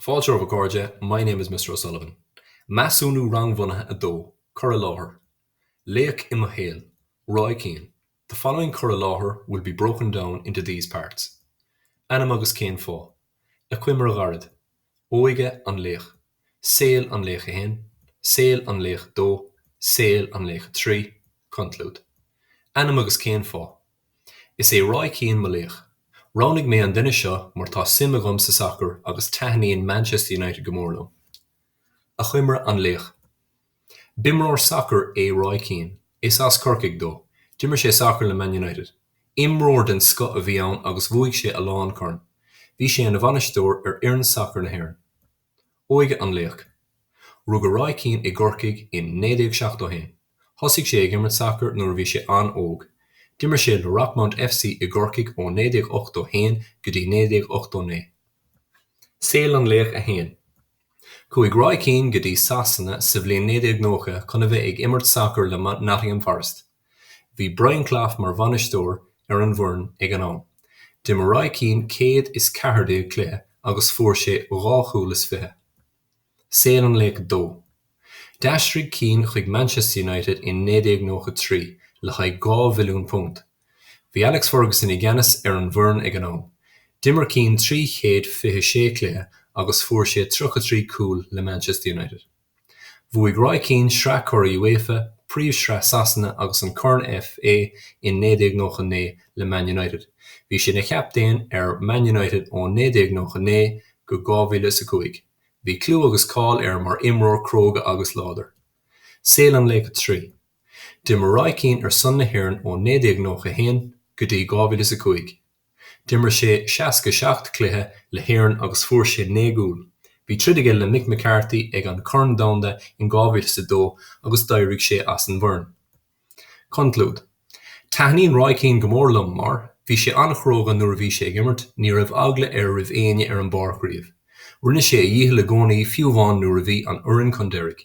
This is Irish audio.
Fáilte romhaibh, a chairde, My name is Mr O'Sullivan. Measúnú Rangbhunaithe 2, Cur i láthair, Laoch i mo shaol, Roy Keane. The following cur i láthair will be broken down into these parts. Ainm agus cén fáth. Achoimre ghairid. Óige an laoich. Saol an laoich 1. Saol an laoich 2. Saol an laoich 3. Conclúid. Ainm agus cén fáth. Is é Roy Keane mo laoch. Roghnaigh mé an duine seo mar tá suim agam sa sacar agus taitníonn Manchester United go mór liom. Achoimre an laoich. B'imreoir sacair é Roy Keane. Is as Corcaigh dó. D'imir sé sacar le Man United. Imreoir den scoth a bhí ann agus bhuaigh sé a lán corn. Bhí sé ina bhainisteoir ar fhoireann sacair na hÉireann. Óige an laoich. Rugadh Roy Keane i gCorcaigh in 1971. Thosaigh sé ag imirt sacair nuair a bhí sé an-óg. D'imir sé le Rockmount FC i gCorcaigh ó 1981 go dtí 1989. Saol an Laoich 1. Chuaigh Roy Keane go dtí Sasana sa bhliain 1990 chun a bheith ag imirt sacair le Nottingham Forest. Bhí Brian Clough mar bhainisteoir ar an bhfoireann ag an am. D'imir Roy Keane 114 cluiche agus fuair sé dhá chúl is fiche. Saol an laoich dó. D'aistrigh Keane chuig Manchester United in 1993 le haghaidh dhá mhilliún punt. Bhí Alex Ferguson i gceannas ar an bhfoireann ag an am. D'imir Keane trí chéad fiche sé cluiche agus fuair sé tríocha trí cúl le Manchester United. Bhuaigh Roy Keane Sraith Churaidh UEFA, Príomhshraith Shasana agus an Corn FA in 1999 le Man United. Bhí sé ina chaptaen ar Man United ó 1999 go 2005. Bhí clú agus cáil air mar imreoir cróga agus láidir. Saol an Laoich 3. D'imir Roy Keane ar son na hÉireann ó 1991 go dtí 2005. D'imir sé 67 cluiche le hÉirinn agus fuair sé naoi gcúl. Bhí troid aige le Mick McCarthy ag an Corn Domhanda in 2002 agus d'éirigh sé as an bhfoireann. Conclúid, Taitníonn Roy Keane go mór liom mar, bhí sé an-chróga nuair a bhí sé ag imirt, ní raibh eagla air roimh éinne ar an bpáirc riamh. Rinne sé a dhícheall i gcónaí fiú amháin nuair a bhí an fhoireann chun deiridh.